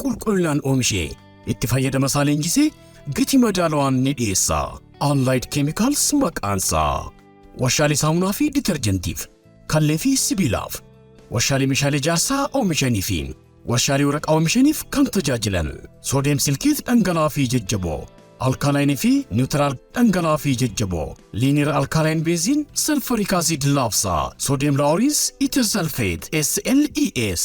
qulqullinaan oomishee itti fayyadama isaa leenjisee gatii madaalawaan ni dhiyeessa. Allied Chemicals maqaan isaa warshaalee saamunaa fi ditarjentiif, kallee fi sibiilaaf, warshaalee meeshaalee ijaarsaa oomishanii fi warshaalee waraqaa oomishaniif kan tajaajilan soodiyem silkeet dhangala'aa fi jajjaboo alkaalaayinii fi niwutiraal dhangala'aa fi jajjaboo liiniir alkaalaayini beeziin salfariik asiid laafsaa soodiyem laaworiins itir salfeet SLES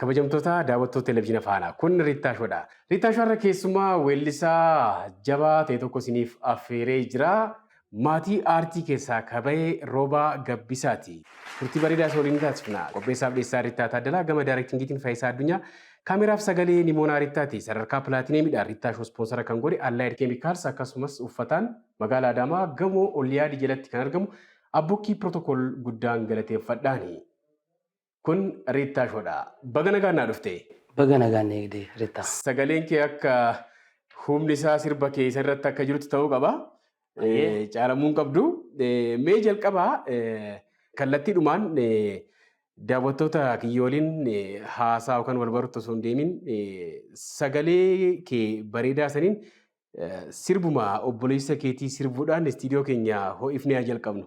Kabajamtoota daawwattoota Televizyina Faanaa kun Riittaa Show dha. Riittaa Show irra keessumaa weellisaa jabaa ta'e tokko isiniif affeeree jira. Maatii aartii keessaa ka bahe Roobaa Gabbisaati. Turtii bareedaa isa waliin ni taasifna. Qopheessaaf dhiyeessaa Riittaa Taaddalaa gama daayirektingiitiin Fayisaa Addunyaa. Kaameraaf sagalee Nimoonaa Riittaati. Sadarkaa Pilaatineemiidhaan Riittaa Show ispoonsara kan godhe Allied Chemicals akkasumas uffataan magaala Adaamaa gamoo Olyaadi jalatti kan argamu Abbukkii Protocol guddaan galateeffadhaani. Kun Riittaa Shoodha. Baga nagaan naa dhufte. Baga nagaan na eegde Ritta. Sagaleen kee akka humni isaa sirba kee isa irratti akka jirutti ta'uu qaba. Ayyee. Eh, Caalamuu hin qabdu. Eh, Mee jalqaba eh, kallattiidhumaan eh, daawwattoota kiyya waliin eh, haasaa yookaan wal baruutti osoo hin deemin eh, sagalee kee bareedaa saniin eh, sirbuma obboleessa keetii sirbuudhaan istiidiyoo keenya ho'ifnee haa jalqabnu.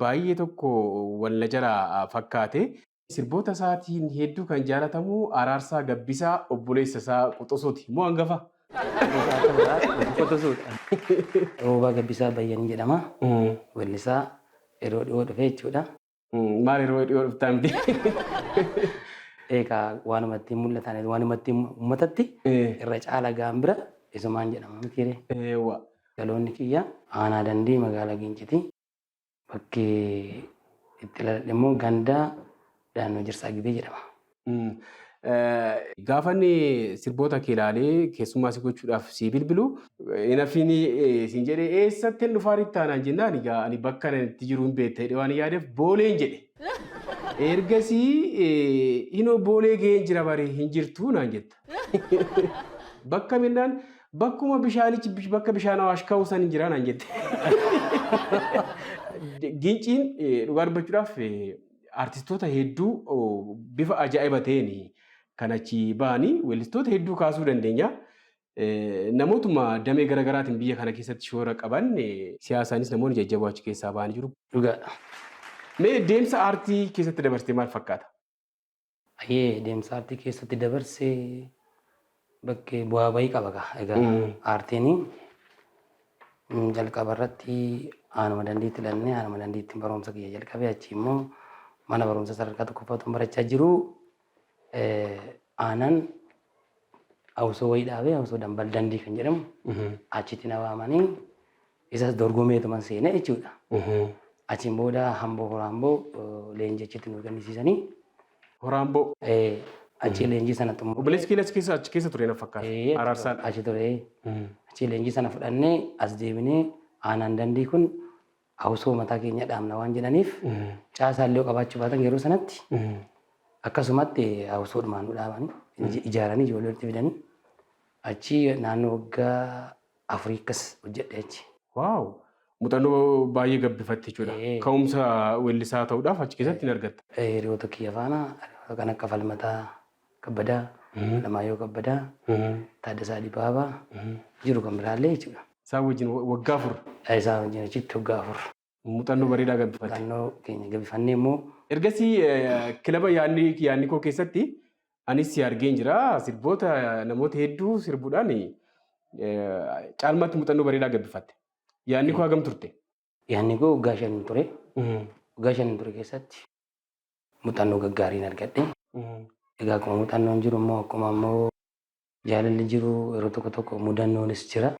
Baay'ee tokko wal na jalaa fakkaate. Sirboota isaatiin hedduu kan jaalatamu Araarsaa Gabbisaa obboleessa isaa Quxusuuti. Moo hangafa? Hangafa akka biraa Quxusuudha. Roobaa Gabbisaa Bayyanii jedhama. Weellisaa yeroo dhihoo dhufe jechuudha. Maal yeroo dhiyoo dhuftaa miti? Eegaa waanuma ittiin mul'atan waanuma ittiin uummatatti irra caala ga'an bira isumaan jedhama mitiiree. Eewwa. Dhaloonni kiyya aanaa dandii magaalaa Giinciti. Bakki itti dhaladhe immoo ganda Daannoo Jirsaa Gibee jedhama. Gaafa inni sirboota kee ilaalee keessummaa si gochuudhaaf sii bilbilu hin hafiini siin jedhe eessatti hin dhufaa rittaa naan jennaan egaa ani bakka ani itti jiru hin beekta jedhee waan yaadeef booleen jedhe. Ergasii hinoo boolee ga'een jira bare hin jirtu naan jetta. Bakka kam jennaan bakkuma bishaanichi bish- bakka bishaan awaash ka'u san hin jiraa naan jette. Ginciin eh, dhugaa dubbachuudhaaf eh, artistoota hedduu oh, bifa ajaa'iba ta'een kan achi ba'anii weellistoota hedduu kaasuu dandeenya. Eh, Namootuma damee garaagaraatiin biyya kana keessatti shoora qaban eh, siyaasaanis namoonni jajjaboo achi keessaa ba'anii jiru. Dhugaadha. Mee deemsa aartii keessatti dabarsitee maal fakkaata? Ayyee deemsa aartii keessatti dabarse bakkee bu'aa bahii qaba gaa. Egaa Mm. aartiin mm, jalqaba irratti aanuma dandeetti dhannee aanuma dandeetti barumsa kiyya jalqabee achi immoo mana barumsa sadarkaa tokkoffaatuun barachaa jiru eh, aanan hawsoo wayii dhaabee hawsoo dambal dandii kan jedhamu achitti na waamanii Isas dorgomeetuman seena jechuudha. Achiin booda hamboo horaamboo leenjii achitti nu kennisiisanii. Horaamboo. Achii leenjii sana xumurre. Obboleessi keenya achi keessa achi keessa ture na fakkaata. Araarsaadha. Achi ture. Achii leenjii sana fudhannee as deebinee aanaan dandii kun hawsoo mataa keenya dhaabna waan jedhaniif caasaa illee qabaachuu baatan yeroo sanatti akkasumatti hawsoo dhumaan nu dhaabanii ijaaranii ijoollee walitti fidanii achii naannoo waggaa afurii akkas hojjedhe achi. Waaw! Muuxannoo baay'ee gabbifatte jechuudha. Ee. Ka'umsa weellisaa ta'uudhaaf achi keessatti hin argatta. Eh, Hiriyoota kiyya faana hiriyoota kan akka Falmataa Kabbadaa, Alamaayyoo Kabbadaa, Taaddasaa Dibaabaa jiru kan biraallee jechuudha. Isaan wajjin wa- waggaa afur. Isaan wajjin achitti waggaa afur. Muuxannoo bareedaa gabbifatte. Muuxannoo keenya gabbifannee immoo. Ergasii kilaba Yaannikoo keessatti anis si argeen jira. Sirboota namoota hedduu sirbuudhaan caalmaatti muuxannoo bareedaa gabbifatte. Yaannikoo hagam turte? Yaannikoo waggaa shan ture. Waggaa shan ture keessatti muuxannoo gaggaariin argadhe. Egaa akkuma muuxannoon jiru immoo akkuma immoo jaalalli jiru yeroo tokko tokko mudannoonis jira.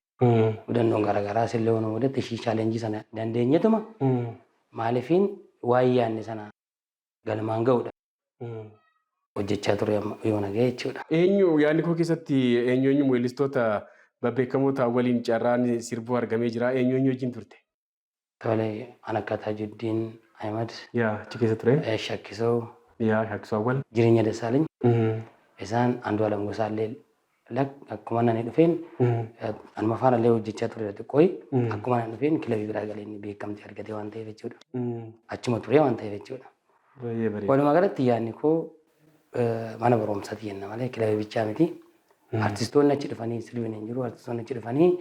Mudannoon garaagaraas illee waan mudate ishii chaalenjii sana dandeenyetuma maaliifiin waan yaadne sana galmaan ga'uudha. Hojjechaa ture amma yoo naga'e jechuudha. Eenyu yaadni koo keessatti eenyu eenyu weellistoota babbeekamoo ta'an waliin carraan sirbuu argamee jira. Eenyu eenyu wajjin turte? Tole an akka Tajuddin Ahmed. Yaa achi keessa ture. Shakkisoo. Yaa Shakkisoo Awwal. Jireenya Dassaaleny. Isaan Andu'aalam Gosaallee lak akkuma nani dhufeen anuma faana illee hojjechaa tureera xiqqooyi. Akkuma nani dhufeen kilabii biraa galee inni beekamtii argatee waan ta'eef jechuudha. Achuma turee waan ta'eef jechuudha. Baay'ee bareeda. Walumaa galatti yaadni koo mana barumsaati jenna malee kilabii bichaa miti. Artistoonni achi dhufanii sirbiin hin jiru. Artistoonni achi dhufanii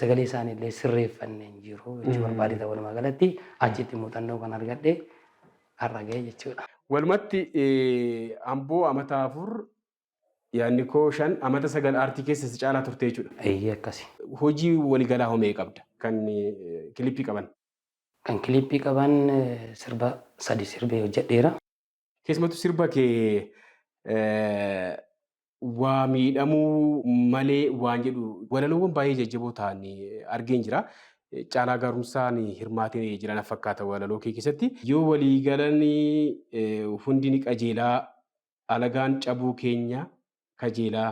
Sagalee isaanii illee sirreeffanne hin jiru jechuu barbaadee ta'a walumaa galatti achitti muuxannoo kan argadhe har'a ga'e jechuudha. Walumatti Amboo amata afur yaadni koo shan amata sagal aartii keessa si caalaa turte jechuudha. Eeyyee akkasi. Hojii waligalaa hoo meeqa qabda kan kilippii qaban? Kan kilippii qaban sirba sadi sirbee hojjedheera. Keessumattuu sirba kee waa miidhamuu malee waan jedhu walaloowwan baay'ee jajjaboo ta'an argeen jira. Caalaa gaarumsaan hirmaatee jira na fakkaata walaloo kee keessatti. Yoo walii galan hundi ni qajeelaa alagaan cabuu keenya kajeelaa.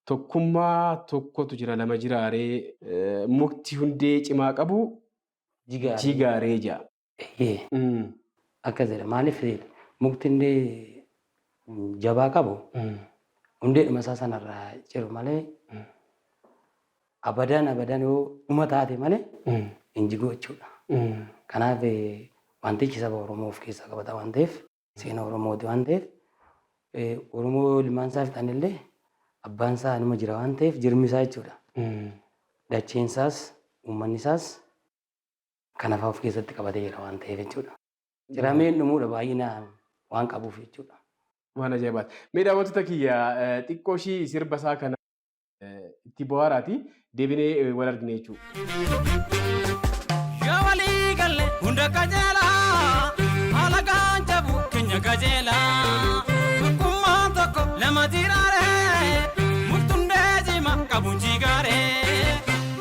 Tokkummaa tokkotu jira lama jiraaree mukti hundee cimaa qabu jigaaree ja'a. Eyyee. Mm. Akkas jedha maaliif mukti hundee mm, jabaa qabu Mm. hundeedhuma isaa sanarraa ciru malee abadaan abadaan yoo dhuma taate malee Mm. hin jigu jechuudha. Mm. Kanaaf eh, wantichi saba Oromoo of keessaa qabata waan ta'eef seena Oromooti waan ta'eef eh, Oromoo ilmaan isaa fixan illee abbaan isaa anuma jira waan ta'eef jirmi isaa jechuudha. Mm. Dacheen isaas uummanni isaas kana fa'aa of keessatti qabatee jira waan ta'eef jechuudha. Cirameen dhumuudha baay'ina waan qabuuf jechuudha. Waan ajaa'ibaati. Mee daawwattoota kiyya xiqqoo ishii sirba isaa kana itti bohaaraati deebinee wal argina jechuudha. Yoo walii galle hunda qajeela alagaan jabu keenya qajeela tokkummaan tokko lama jiraare murtundee jima qabu jigaare.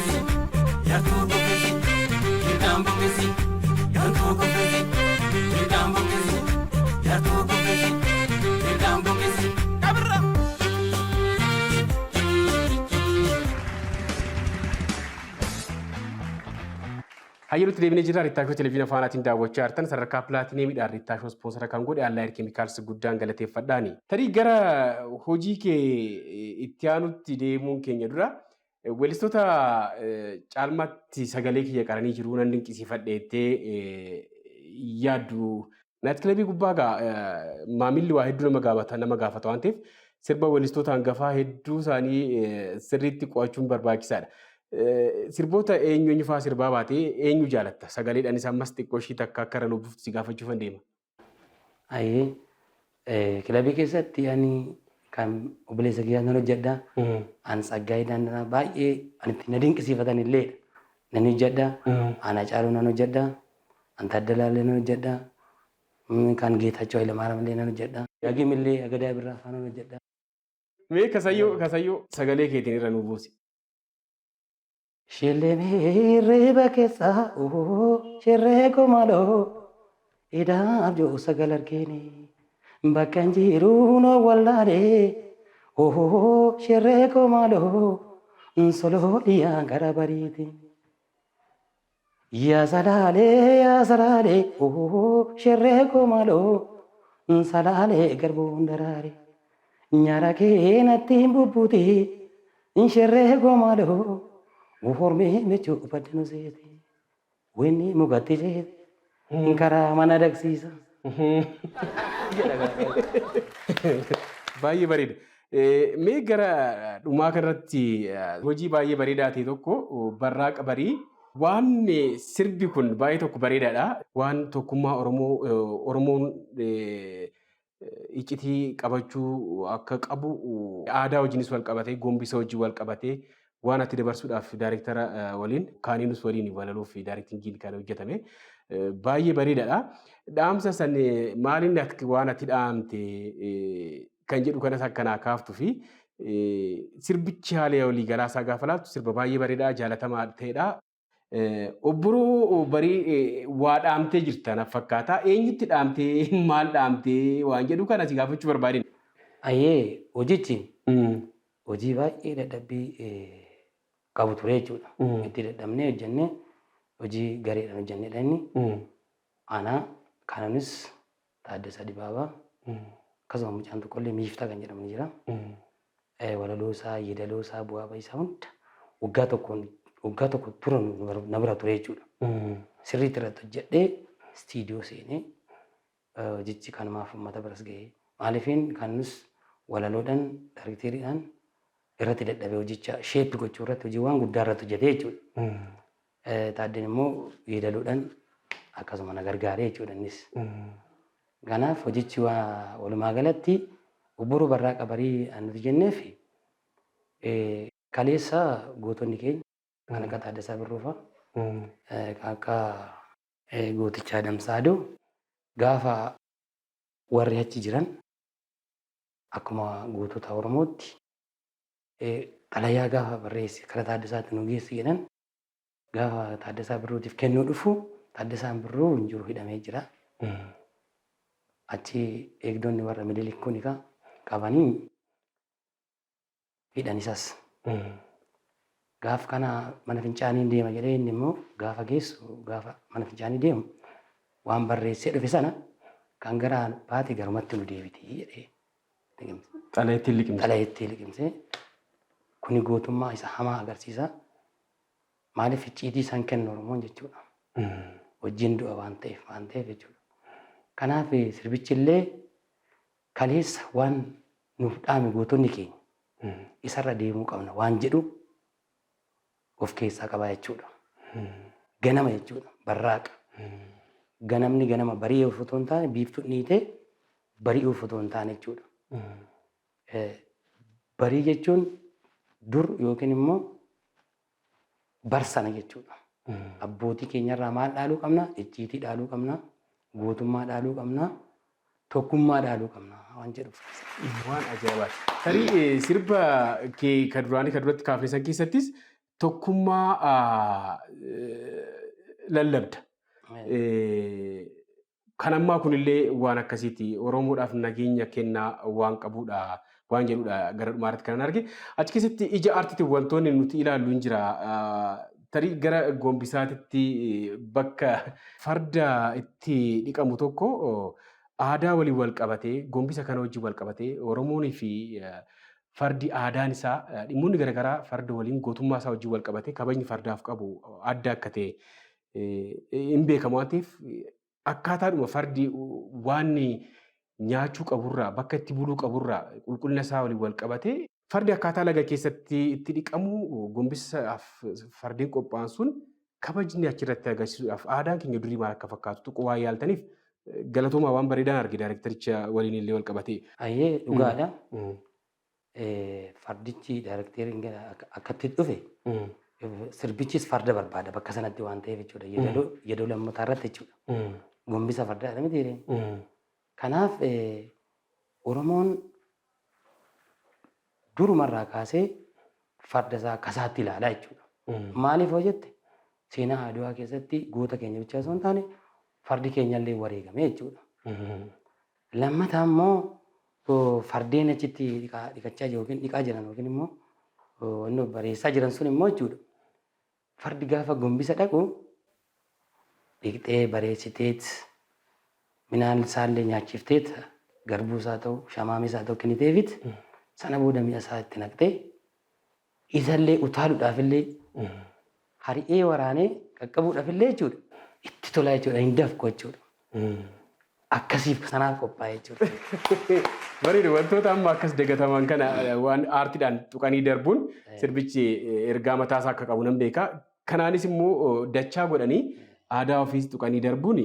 Yartuu buqqisi, hidhaan buqqisi, gantuu kuffisi, hidhaan buqqisi, yartuu buqqisi, hidhaan buqqisi. Kabirra! Hayyalutti deebinee jirra. Riittaashoo Televiziina Faanaatiin daawwachaa jirtan sadarkaa pilaatineemiidhaan riittaashoo ispoonsara kan godhe Allaayir Keemikaalsi guddaan galateeffadhaani. Tarii gara hojii kee itti aanutti deemuun keenya dura Weellistoota caalmaatti sagalee kiyya qaranii jiru nan dinqisiifadhe jettee yaaddu. Naayit kilabii gubbaa gaa maamilli waa hedduu nama gaafata nama gaafata waan ta'eef sirba weellistoota hangafaa hedduu isaanii sirriitti qo'achuun barbaachisaadha. Sirboota eenyu eenyu fa'aa sirbaa baatee eenyu jaalatta? Sagaleedhaan isa ammas xiqqoo ishii takka akka irra nuuf buftu si gaafachuufan deema. Ayi kilabii keessatti ani kan obboleessa kiyyaa nan hojjedha. An Tsaggaayee Daandanaa baay'ee ani itti na dinqisiifatan illee nan hojjedha. An Hacaaluu nan hojjedha. An Taaddalaa illee nan hojjedha. Mm, Kan Geetaachoo Hayilamaariyaam illee nan hojjedha. Dagim illee Agadaa Birraa afaan nan hojjedha. Mee kasayyoo kasayyoo sagalee keetiin irra nu buusi. Shilini hirriba keessa uu shirree koo maaloo idaaf jiru sagal argeeni bakka hin jiru na wallaale uu shirree koo maaloo soloo dhiyaan gara bariiti. Yaa salaalee yaa salaalee ohoo sherree koo maaloo Salaalee garbuun daraare nyaara kee natti hin bubbuti Sherree koo maaloo hormee michuu badda nu seete Weenni mukatti ceete karaa mana dagsiisa. jedha gaafata. Baay'ee bareeda. Eh, Mee gara dhumaa kanarratti eh, hojii baay'ee bareedaa ta'e tokko oh, barraaqa barii waan eh, sirbi kun baay'ee tokko bareedaadha. Waan tokkummaa Oromoo eh, Oromoon eh, eh, iccitii qabachuu akka qabu oh, aadaa wajjinis wal qabatee gombisa wajjin wal qabatee waan ati dabarsuudhaaf daariktara waliin kaaniinus waliin walaluuf daariktingiin kan hojjetame baay'ee bareedaadha. Dhaamsa san maaliin waan ati dhaamte kan jedhu kanas akkanaa kaaftu fi sirbichi haala walii galaasaa gaafa laattu sirba baay'ee bareedaa jaalatamaa ta'edha. Obboroo barii waa dhaamtee jirta na fakkaata. Eenyutti dhaamtee maal dhaamtee waan jedhu kana si gaafachuu barbaadina. Ayyee hojichi hojii baay'ee dadhabbii qabu ture jechuudha. Itti dadhabnee hojjennee hojii gareedhaan hojjennedha inni. Ana kananis Taaddasaa Dibaabaa, akkasuma mucaan tokkollee Miiftaa kan jedhamu ni jira. Eh, Walaloo isaa, yeedaloo isaa, bu'aa ba'ii isaa hunda waggaa tokkoon waggaa tokko tura nu- nu bar- na bira ture jechuudha. Sirriitti irratti hojjedhee istiidiyoo seenee eh, hojichi kanumaaf uummata biras ga'ee maaliifiin kanus walaloodhaan daarikteeriidhaan irratti dadhabee hojicha sheeppi gochuu irratti hojiiwwan guddaa irratti hojjetee jechuudha. Taaddeen immoo yeedaloodhaan akkasuma na gargaare jechuudha innis. Kanaaf hojichi walumaa galatti obboroo barraaqa barii an nuti jenneef kaleessa gootonni keenya kan akka Taaddasaa Birruu fa'a kan akka gooticha Adamsaa Adoo gaafa warri achi jiran akkuma gootota Oromootti xalayaa gaafa barreesse kara Taaddasaatti nu geessi jedhan Gaafa Taaddasaa Birruutiif kennuu dhufu Taaddasaan Birruu hin jiru hidhamee jira. Achi eegdonni warra Minilik kun egaa qabanii hidhan isas. Gaaf kana mana fincaanii deema jedhee inni immoo gaafa geessu gaafa mana fincaanii deemu waan barreessee dhufe sana kan garaan baate garumatti nu deebiti jedhee Xalayeettiin liqimse. Xalayeettii liqimse. Kuni gootummaa isa hamaa agarsiisa. Maaliif icciitii isaan kennu Oromoon jechuudha. Wajjin du'a waan ta'eef waan ta'eef jechuudha. Kanaaf sirbichi illee kaleessa waan nuuf dhaame gootonni keenya isarra deemuu qabna waan jedhu of keessaa qaba jechuudha. Ganama jechuudha. Barraaqa. Ganamni ganama bari'uuf otoo hin taane biiftuu dhiitee bari'uuf otoo hin taane jechuudha. Eh, Barii jechuun dur yookiin immoo barsana jechuudha. Abbootii keenyarraa maal dhaaluu qabna? Icciitii dhaaluu qabna. Gootummaa dhaaluu qabna. tokkummaa dhaaluu qabna waan jedhuuf. Waan ajaa'ibaati. Tarii eh, sirba kee kan duraanii kan duratti kaafne san keessattis tokkummaa ah, eh, lallabda. Eh, Kan ammaa kunillee waan akkasiiti. Oromoodhaaf nageenya kennaa waan qabuudha. waan jedhudha gara dhumaa irratti kanan arge. Achi keessatti ija artiitiin wantoonni nuti ilaallu hin jira. Tarii gara gombisaatitti bakka farda itti dhiqamu tokko aadaa waliin wal qabatee gombisa kana wajjin wal qabatee Oromoonii fi fardi aadaan isaa dhimmoonni garaagaraa farda waliin gootummaa isaa wajjin wal qabatee kabajni fardaaf qabu adda akka ta'e hin beekamu waan ta'eef Akkaataadhuma fardi waan nyaachuu qaburraa, bakka itti buluu qaburraa qulqullina isaa waliin wal qabatee Fardi akkaataa laga keessatti itti dhiqamu gombisaaf fardeen qophaa'an sun kabajni achirratti agarsiisuudhaaf aadaan keenya durii maal akka fakkaatu tuquu waan yaaltaniif galatoomaa waan bareedaan arge daayirektaricha waliin illee wal qabatee. Ayyee dhugaadha. fardichi daarekteeriin gara akka- akkatti dhufe sirbichis farda barbaada bakka sanatti waan ta'eef jechuudha. Yeedaloo yeedaloo lammataa irratti jechuudha. Gombisa fardaa jedhama jedheen. Kanaaf eh, Oromoon durumarraa kaasee farda isaa akka isaatti ilaalaa jechuudha. Maaliif hoo jette seenaa Adwaa keessatti goota keenya bichaa osoo hin taane fardi keenyallee wareegame jechuudha. Lammataa immoo fardeen achitti dhiqachaa jiru yookiin dhiqaa jiran yookiin immoo wanni bareessaa jiran sun immoo jechuudha. Fardi gaafa gombisa dhaqu dhiqxee bareessiteet minaan isaallee nyaachifteet garbuu isaa ta'u shamaamis haa ta'u kenniteefit sana booda mi'a isaa itti naqxee Isallee utaaludhaafillee hari'ee waraanee qaqqabuudhaafillee jechuudha itti tolaa jechuudha hin dafqu jechuudha. Akkasiif sanaaf qophaa'ee jechuudha. Bareeda wantoota amma akkas dagataman kana waan aartiidhaan tuqanii darbuun sirbichi ergaa mataasaa akka qabu nan beeka. Kanaanis immoo dachaa godhanii aadaa ofiis tuqanii darbuun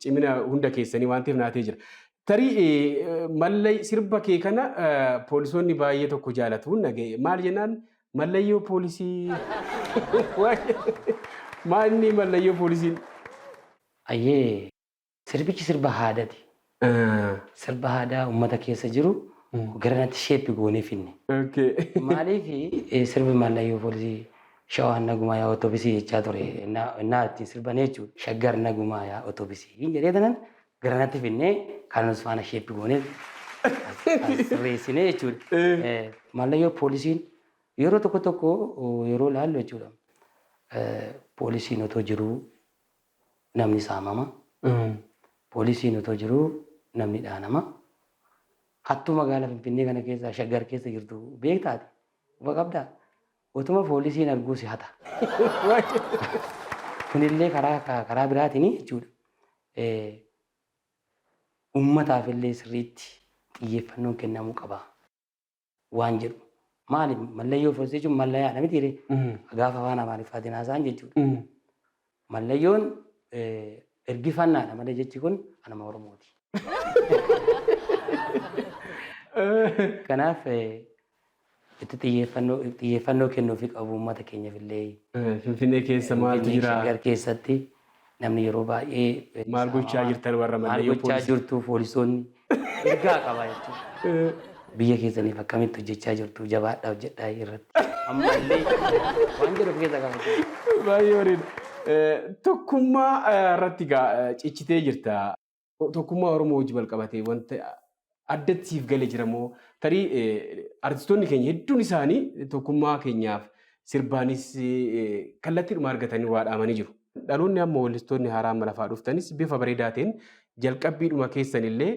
cimina hunda keessanii waan ta'eef naatee jira. Tarii mallay sirba kee kana poolisoonni baay'ee tokko jaalatu naga'e. Maal jennaan mallayyoo poolisii. Maa inni mallayyoo poolisiin. Ayyee sirbichi sirba haadati. Sirba haadaa ummata keessa jiru garanatti sheeppi goonee finne. Okay. Maaliif sirbi mallayyoo poolisii shawaan nagumaa yaa otobisii jechaa ture. Innaa ittiin sirban jechuudha. Shaggar nagumaa yaa otobisii jedhee tanan Garanatti finnee kaanus faana sheeppi goonee sirreessinee jechuudha. Mallayyoo poolisiin yeroo tokko tokko yeroo ilaallu jechuudha. Poolisiin otoo jiruu namni saamama. Poolisiin otoo jiruu namni dhaanama. Hattuu magaala Finfinnee kana keessa shaggar keessa jirtu beektaati. Quba qabdaa? Otuma foolisiin arguu si hata. Kunillee karaa karaa biraatiin jechuudha uummataaf illee sirriitti xiyyeeffannoon kennamuu qaba waan jedhu. Maali mallayyoo foolisichuun mallayaadha mitiiree gaafa afaan amaariffaatiin haasa'an jechuudha. Mallayyoon ergifannaadha malee jechi kun anuma Oromooti. Kanaaf itti xiyyeeffannoo xiyyeeffannoo kennuufi qabu uummata keenyaaf illee Finfinnee keessa maaltu Finfinnee jira? Shaggar keessatti namni yeroo baay'ee Maal gochaa jirtan warra maal Mallayoo gochaa poolisii? jirtu poolisoonni Ergaa qaba jechuudha. Biyya keessaniif akkamitti hojjechaa jirtu jabaadhaa hojjedhaa irratti. Ammallee waan jedhu of keessaa qaba jechuudha. Baay'ee bareeda. Tokkummaa irratti gaa cichitee jirta. Tokkummaa Oromoo wajji wal qabatee wanta addatti siif gale jira moo tarii artistoonni keenya hedduun isaanii tokkummaa keenyaaf sirbaanis kallattiidhuma argatanii waa dhaamanii jiru. Dhaloonni amma weellistoonni haaraa amma lafaa dhuftanis bifa bareedaa ta'een jalqabbiidhuma keessan illee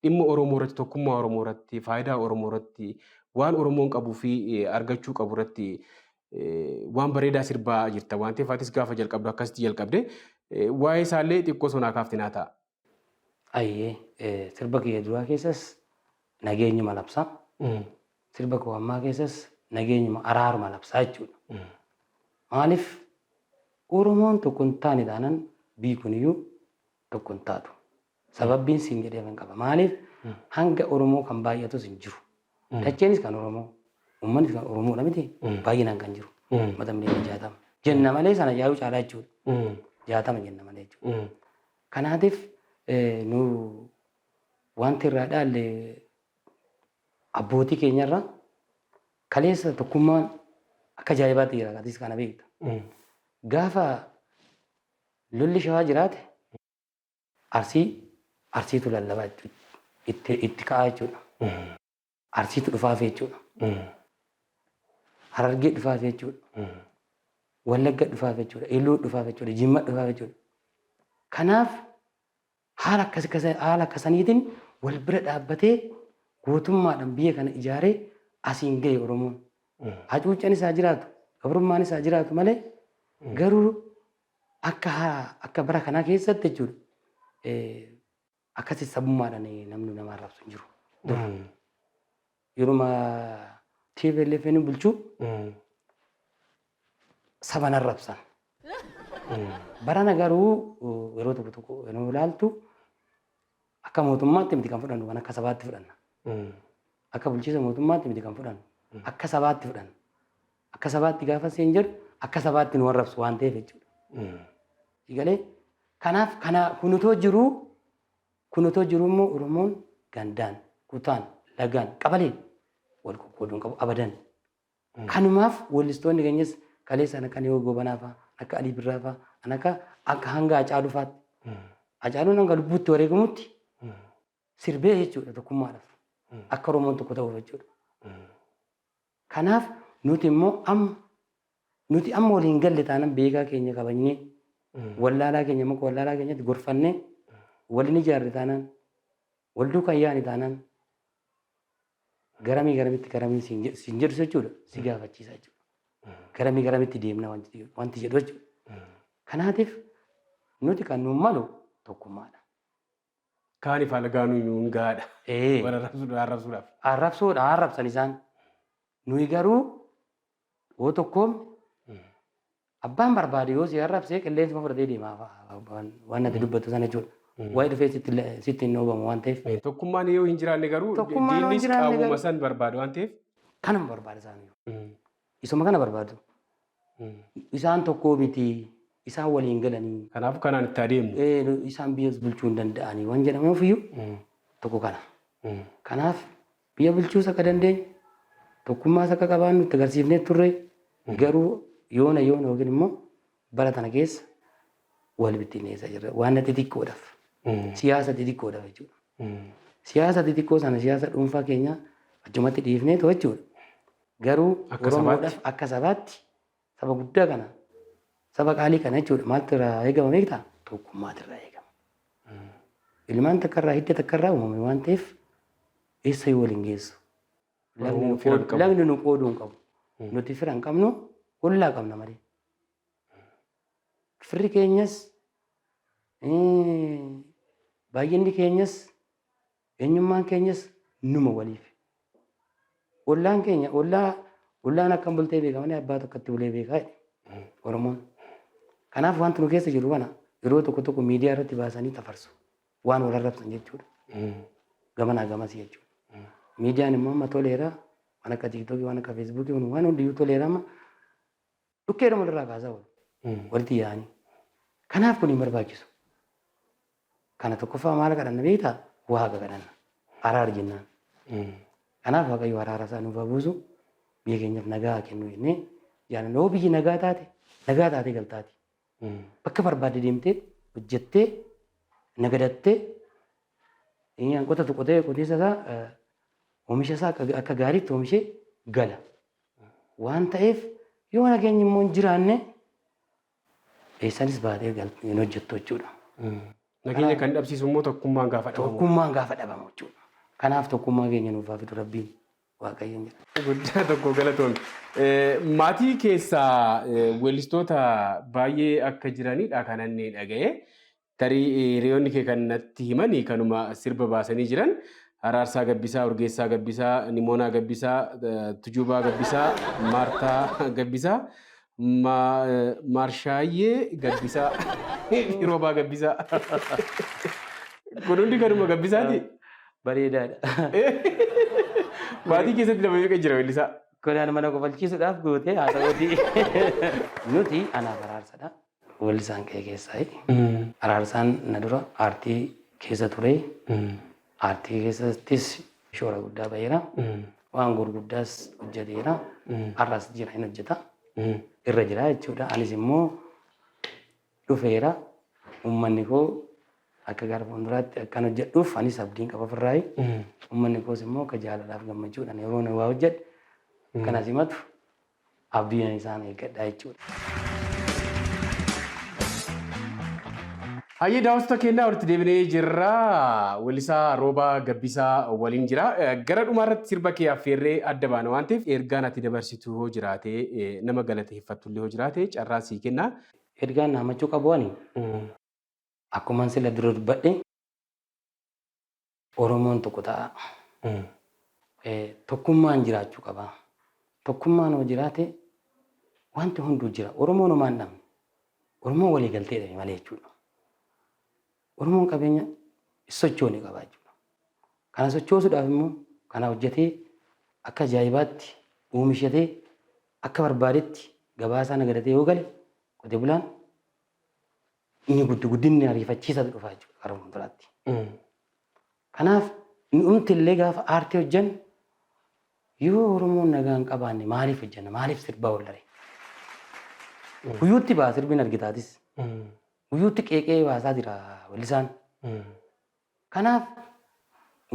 dhimma Oromoo irratti tokkummaa Oromoo irratti faayidaa Oromoo irratti waan Oromoon qabuu fi argachuu qabu irratti waan bareedaa sirbaa jirta waan ta'eef atis gaafa jalqabdu akkasitti jalqabde waa'ee isaallee xiqqoo sonaa kaaftinaa ta'a. Ayyee eh, sirba kiyya duraa keessas nageenyuma labsa. Sirba koo ammaa keessas nageenyuma araaruma labsaa jechuudha. Maaliif Oromoon tokko hin taane taanan biyyi kuniyyuu tokko hin taatu. Sababbiin siin jedhee kan qaba. Maaliif hanga Oromoo kan baay'atus hin jiru. Dacheenis kan Oromoo, uummannis kan Oromoodha miti baay'inaan kan jiru. Uummata miliyoona jaatama. Jenna malee sana yaa'uu caalaa jechuudha. Jaatama jenna malee jechuudha. Kanaatiif nu wanti irraa dhaalle abbootii keenya irraa kaleessa tokkummaan akka ajaa'ibaatti jira atis kana beekta. Gaafa lolli shawaa jiraate arsii arsiitu lallabaa jechuudha. Itti itti ka'aa jechuudha. Arsiitu dhufaafi jechuudha. Harargee dhufaafi jechuudha. Wallagga dhufaafi jechuudha. Iluu dhufaafi jechuudha. Jimma dhufaafi jechuudha. Kanaaf haala akkas akkasa- haala akkasaniitiin wal bira dhaabbatee gootummaadhaan biyya kana ijaaree asiin gahe Oromoon. Hacuuccaan isaa jiraatu, gabrummaan isaa jiraatu malee garuu akka haa- akka bara kanaa keessatti jechuudha. eh, Akkasi sabummaadhaan namni nama arrabsu hin jiru. Dura. Yeruma TPLF inni bulchu saban arrabsan. Barana garuu uh, yeroo tokko tokko yeroo ilaaltu akka mootummaatti miti kan fudhannu waan akka sabaatti fudhanna. Akka bulchiisa mootummaatti miti kan fudhannu. Akka sabaatti fudhanna. Akka sabaatti gaafa siin jedhu akka sabaatti nu arrabsu waan ta'eef jechuudha. Egalee kanaaf kana kun otoo jiruu kun otoo jiruu immoo Oromoon gandaan, kutaan, lagaan, qabaleen wal qoqqooduu hin qabu abadan. Kanumaaf weellistoonni keenyas kaleessa kan akka Niyoo Goobanaa fa'a, akka Alii Birraa fa'a, kan akka akka hanga Hacaaluu fa'aatti. Hacaaluun hanga lubbuutti wareegamutti sirbee jechuudha tokkummaadhaaf. Akka Oromoon tokko ta'uuf jechuudha. Kanaaf nuti immoo amma nuti amma walii hin galle taanan beekaa keenya kabajnee wallaalaa keenya immoo wallaalaa keenyatti gorfannee waliin ijaarre taanan wal duukaa yaani taanan garamii garamitti garamiin siin jedhu siin jedhu jechuudha si gaafachiisa jechuudha. Garamii garamitti deemna wanti jedhu- wanti jedhu jechuudha. Kanaatiif nuti kan nuun malu tokkummaadha. Kaanif alagaanuu nuun gahaadha. Ee. Wal arrabsuudhaa arrabsuudhaaf. Arrabsoodha haa arrabsan isaan. Nuyi garuu yoo tokkoomne abbaan barbaade yoo si arrabsee qilleensuma fudhatee deema waan natti dubbattu sana jechuudha. Waa'ee dhufee sitti hin dhoobamu waan ta'eef. Tokkummaan yoo hin jiraanne garuu diinnis qaawwuma san barbaada waan ta'eef. Kanuma barbaada isaanii. Isuma kana barbaadu. Isaan tokkoo miti. Isaan waliin galanii. Kanaafuu kanaan itti adeemu. Ee, nu- isaan biyyas bulchuu hin danda'anii waan jedhamuuf iyyuu tokko kana. Kanaaf biyya bulchuus akka dandeenyu tokkummaas akka qabaannu itti agarsiifnee turre garuu yoona yoona yookiin immoo Bara tana keessa wal bittinneessaa jirra. Waanna xixiqqoodhaaf. Siyaasa xixiqqoodhaaf jechuudha. Siyaasa xixiqqoo sana siyaasa dhuunfaa keenya achumatti dhiifnee too jechuudha. Garuu Akka Oromoodhaaf sabaatti. akka sabaatti saba guddaa kana saba qaalii kana jechuudha maaltu irraa eegama beektaa? Tokkummaatu irraa eegama. Ilmaan takka irraa hidda takka irraa uumame waan ta'eef eessa yoo wal hin geessu. Oromoon fira hin qabu. Lagni nu qooduu hin qabu. Nuti fira hin qabnu ollaa qabna malee. Firri keenyas eh, baay'inni keenyas eenyummaan keenyas numa waliif. Ollaan keenya ollaa ollaan akkam bultee beeka malee abbaa tokkotti bulee beekaa jedhe Oromoon. Kanaaf wanti nu keessa jiru kana yeroo tokko tokko miidiyaa irratti baasanii tafarsu. waan wal arrabsan jechuudha. Gamanaa gamas jechuudha. Miidiyaan immoo amma toleera waan akka tiiktookii waan akka feesbuukii kun waan hundiyyuu toleera amma dhukkeedha walirraa kaasaa wal walitti yaa'anii. Kanaaf kun hin barbaachisu. Kana tokkoffaa maal kadhanna beektaa? Waaqa kadhanna. Araar jennaan. Kanaaf Waaqayyo araara isaa nuuf haa buusu. Biyya keenyaaf nagaa haa kennu jennee jaalannoo biyyi nagaa taate nagaa taatee galtaati. Bakka barbaadde deemtee hojjettee nagadattee kan qotatu qotee qotiisa isaa oomisha isaa akka gaariitti oomishee gala. Waan ta'eef yoo nageenyi immoo hin jiraanne eessaanis baatee hin hojjettu jechuudha. Nageenya kan dhabsiisu immoo tokkummaan gaafa dhabamu. Tokkummaan gaafa dhabamu jechuudha. Kanaaf tokkummaa keenya nuuf haa fidu rabbiin. Waaqayyoon jedha. Guddaa tokko galatoomi. Maatii keessaa weellistoota baay'ee akka jiranidha kan inni dhaga'e. Tarii hiriyoonni kee kan natti himani kanuma sirba baasanii jiran Araarsaa Gabbisaa, Urgeessaa Gabbisaa, Nimoonaa Gabbisaa, Tujuubaa Gabbisaa, Maartaa Gabbisaa Ma, eh, Marshaayyee Gabbisaa. Roobaa Gabbisaa. Kun hundi kanuma Gabbisaati. Bareedaadha. Maatii keessatti nama meeqa jira weellisaa? Kunaan mana kofalchiisuudhaaf goote haa ta'uuti. Nuti anaaf araarsadha. Weellisaan kee keessaayi. Araarsaan na dura aartii keessa ture. Aartii keessattis shoora guddaa baheera. Waan gurguddaas hojjeteera. Har'as jira hin hojjeta. Irra jira jechuudha. Anis immoo dhufeera. Uummanni koo akka gara fuulduraatti akkan hojjedhuuf anis abdiin qaba ofirraayi. Uummanni koos immoo akka jaalalaaf gammachuudhaan yeroo na waa hojjedhe akkanas himatu Abdiidhan isaan eeggadha jechuudha. Hayyee daawwattoota keenyaa walitti deebinee jirra. Weellisaa Roobaa Gabbisaa waliin jira. Gara dhumaa irratti sirba kee affeerree adda baana waan ta'eef ergaan ati dabarsitu hoo jiraate nama galateeffattu illee hoo jiraate carraa sii kenna. Ergaan dhaamachuu qabu ani akkuman sila dura dubbadhe Oromoon tokko ta'aa. Tokkummaan jiraachuu qabaa. Tokkummaan hoo jiraate wanti hunduu jira. Oromoon homaa hin dhabne. Oromoon walii galtee dhabe malee jechuudha. Oromoon qabeenya sochoone qaba jechuudha. Kana sochoosuudhaaf immoo kana hojjetee akka ajaa'ibaatti oomishatee akka barbaadetti gabaasaa nagadatee yoo gale qote bulaan Inni guddi guddinni ariifachiisaatu dhufa jechuudha gara fuulduraatti. Kanaaf nu'umti illee gaafa aartii hojjennu yoo Oromoon nagaa hin qabaanne maaliif hojjenna maaliif sirbaa wallaree? Guyyuutti ba'a sirbiin argitaatis. Guyyuutti qeeqee baasaa jira wallisaan. Kanaaf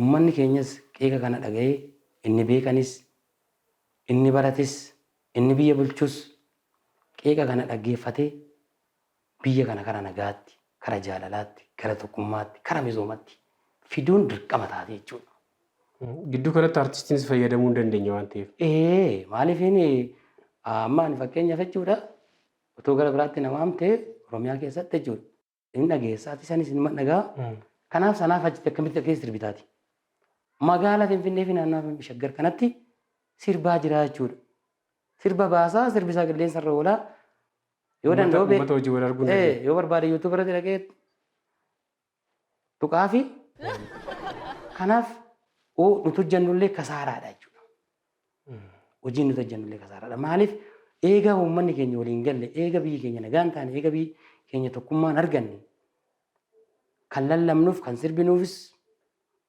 ummanni keenyas qeeqa kana dhaga'ee inni beekanis inni barates inni biyya bulchus qeeqa kana dhaggeeffatee Biyya kana kara nagaatti, kara jaalalaatti, gara tokkummaatti, kara misoomatti fiduun dirqama taati jechuudha. Gidduu kanatti artistiinis fayyadamuu hin dandeenye waan ta'eef. Ee maaliif inni amma ani fakkeenyaaf jechuudha utuu gara biraatti na waamte Oromiyaa keessatti jechuudha. Inni dhageessaati isanis inni dhagaa. Kanaaf sanaaf achitti akkamitti dhageessi sirbitaati. Magaala Finfinnee fi naannaa Finfinnee shaggar kanatti sirbaa jira jechuudha. Sirba baasaa sirbi isaa qilleensa irra oolaa Yoo Uummata- danda'u bee- uummata hojii wal arguu hin Ee, dandeenye. yoo barbaade YouTube irratti dhaqee tuqaa fi kanaaf oo nuti hojjennullee kasaaraadha jechuudha. Hojiin nuti hojjennullee kasaaraadha. Maaliif eega uummanni keenya waliin galle, eega biyyi keenya nagaan taane, eega biyyi keenya tokkummaan arganne kan lallabnuuf, kan sirbinuufis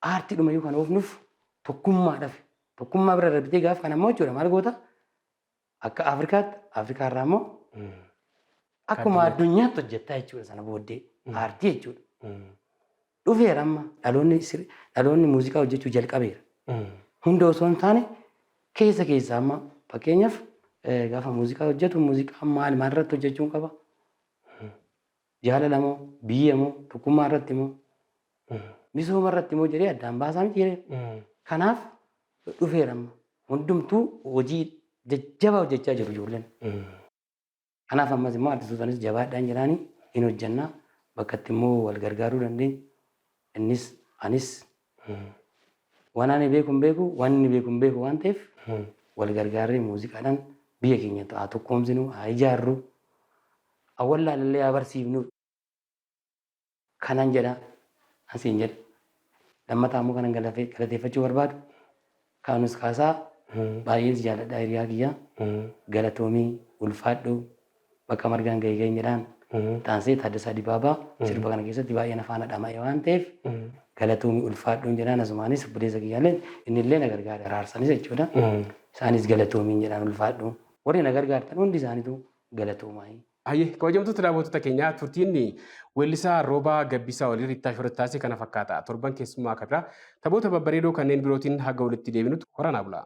aartii dhumayyuu kan oofnuuf tokkummaadhaaf. Tokkummaa bira darbitee gaaf kan ammoo jechuudha maal goota? Akka Afrikaatti, Afrikaa irraa immoo akkuma addunyaatti hojjettaa jechuudha sana booddee aartii jechuudha. Dhufeera amma dhaloonni sir- dhaloonni muuziqaa hojjechuu jalqabeera. Hunda osoo hin taane keessa keessa amma fakkeenyaaf eh, gaafa muuziqaa hojjetu muuziqaa maal maal irratti hojjechuun qaba? Jaalala moo, biyya moo, tokkummaa irratti moo, misooma irratti moo jedhee addaan baasaa miti jedhee. Kanaaf dhufeera amma. Hundumtuu hojii jajjabaa hojjechaa jiru ijoolleen. Kanaaf ammas immoo adda suutanis jabaadhaan jedhaanii hin hojjennaa bakka itti immoo wal gargaaruu dandeenyu innis anis Waan ani beeku hin beeku, waan inni beeku hin beeku waan ta'eef wal gargaarree muuziqaadhaan biyya keenya haa tokkoomsinu, haa ijaarru, haa wallaalallee haa barsiifnu. Kanan jedha, an siin jedha. Lammataa immoo kanan galateeffachuu barbaadu Kaanus Kaasaa baay'een si jaaladha hiriyaa kiyya galatoomi ulfaadhu bakka margaan gahe gahin jedhaan taansee Taaddasaa Dibaabaa sirba kana keessatti baay'ee na faana dhama'e waan ta'eef galatoomi ulfaadhuun jedhaan asumaanis obboleessa kiyyaallee innillee na gargaare araarsanis jechuudha isaanis galatoomiin jedhaan ulfaadhu warri na gargaartan hundi isaanitu galatoomaayii. Hayyee kabajamtoota daawwattoota keenyaa turtiin weellisaa Roobaa Gabbisaa waliin Riittaa Shooratti taasise kana fakkaata. Torban keessummaa akka biraa taphoota babbareedoo kanneen birootiin haga walitti deebinutti horaa naa bulaa.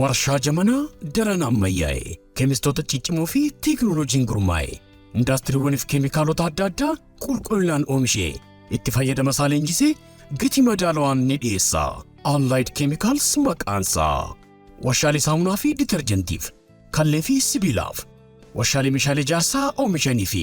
Warshaa jamanaa daran ammayyaa'e, keemistoota ciccimoo fi teeknooloojiin gurmaa'e, indaastiriiwwaniif keemikaalota adda addaa qulqullinaan oomishee, itti fayyadama isaa leenjisee gatii madaalawaan ni dhiyeessa. Allied Chemicals maqaansaa. Warshaalee saamunaa fi ditarjentiif, kallee fi sibiilaaf, warshaalee meeshaalee ijaarsaa oomishanii fi